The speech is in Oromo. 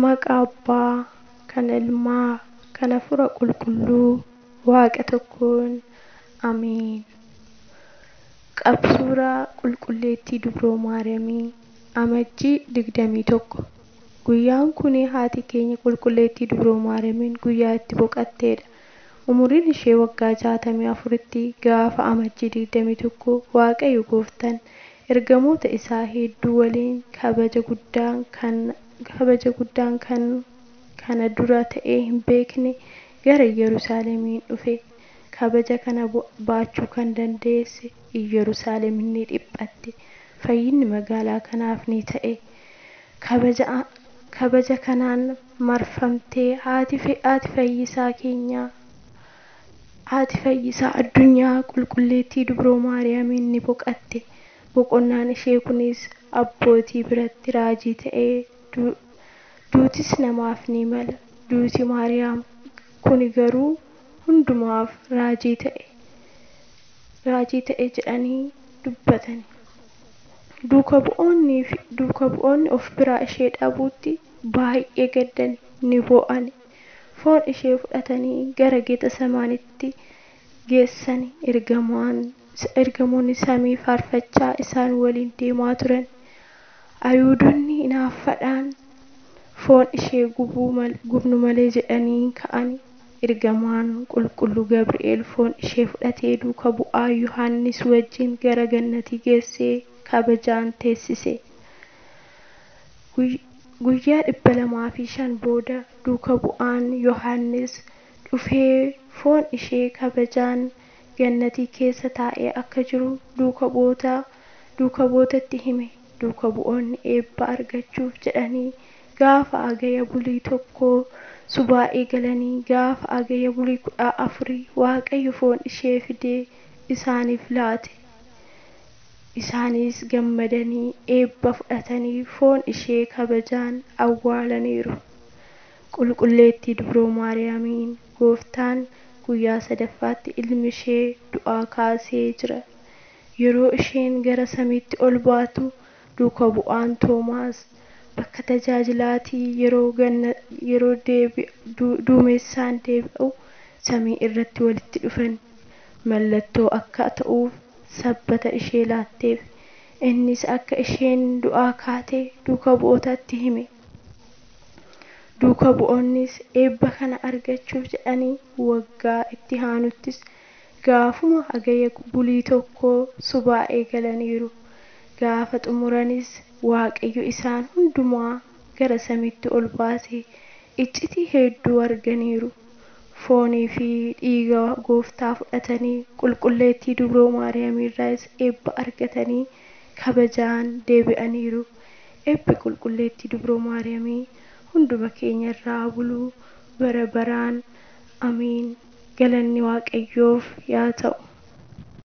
Maqa Abbaa, kan Ilmaa, kan Hafuura Qulqulluu, Waaqa tokkoon. Ameen. Qab Suuraa Qulqulleettii Dubroo Maariyamii, Amajjii 21. Guyyaan kuni haati keenya Qulqulleettii Dubroo Maariyamiin guyyaa itti boqatteedha. Umuriin ishee waggaa 64tti gaafa Amajjii 21 Waaqayyo Gooftan Ergamoota Isaa hedduu waliin kabaja guddaan kan kabaja guddaan kan kana dura ta'ee hin beekne gara Iyyerusaaleemiin dhufe. Kabaja kana baachuu kan dandeesse Iyyerusaaleem ni dhiphatte. Fayyinni magaalaa kanaaf ni ta'e. Kabaja kabaja kanaan marfamtee haati haati Fayyisaa keenyaa. Haati Fayyisaa Addunyaa Qulqulleettii Dubroo Maariyaamiin ni boqatte. Boqonnaan ishee kunis abbootii biratti raajii ta'ee duutis namaaf ni mala. Duuti Maariyaam kuni garuu hundumaaf raajii ta'e raajii ta'e jedhanii dubbatani. Duuka bu'oonni fi duuka bu'oonni of biraa ishee dhabuutti baay'ee gaddani, ni boo'ani. Foon ishee fudhatanii gara Getasemaanitti geessan, ergamoonni samii faarfachaa isaan waliin deemaa turan. Ayihuudonni inaaffaadhaan foon ishee gubnu malee jedhanii in ka'an. Ergamaan qulqulluu Gabri'eel foon ishee fudhatee duuka bu'aa Yohaannis wajjin gara gannatii geessee kabajaan teessise. Guyyaa 205 booda duuka bu'aan Yohaannis dhufee foon ishee kabajaan Gannatii keessa taa'ee akka jiru duuka bu'oota duuka bu'ootatti hime. Duuka bu'oonni eebba argachuuf jedhanii gaafa Agaya bulii 1 subaa'ee galanii gaafa Agaya bulii 14 Waaqayyo foon ishee fidee isaaniif laate. Isaanis gammadanii eebba fudhatanii foon ishee kabajaan awwaalaniiru. Qulqulleettii Dubroo Maariyaamiin Gooftaan guyyaa sadaffaatti ilmi ishee du'aa kaasee jira. Yeroo isheen gara samiitti ol baatu duuka bu'aan Toomaas bakka tajaajilaatii yeroo ganna yeroo deebi duumessaan deebi'u samii irratti walitti dhufan mallattoo akka ta'uuf sabbata ishee laatteef. Innis akka isheen du'aa kaate duuka bu'ootatti hime. Duuka bu'oonnis eebba kana argachuuf jedhanii waggaa itti haanuttis gaafuma Hagaya bulii tokkoo subaa eegalaniiru. Gaafa xumuranis Waaqayyo isaan hundumaa gara samiitti ol baase. Iccitii heedduu arganiiru. Foonii fi dhiiga Gooftaa fudhatanii, Qulqulleettii Dubroo Maariyaamiirraayis eebba argatanii kabajaan deebi'aniiru. Eebbi Qulqulleettii Dubroo Maariyaamii hunduma keenya irra haa bulu bara baraan. Amiin! Galanni Waaqayyoof yaa ta'u!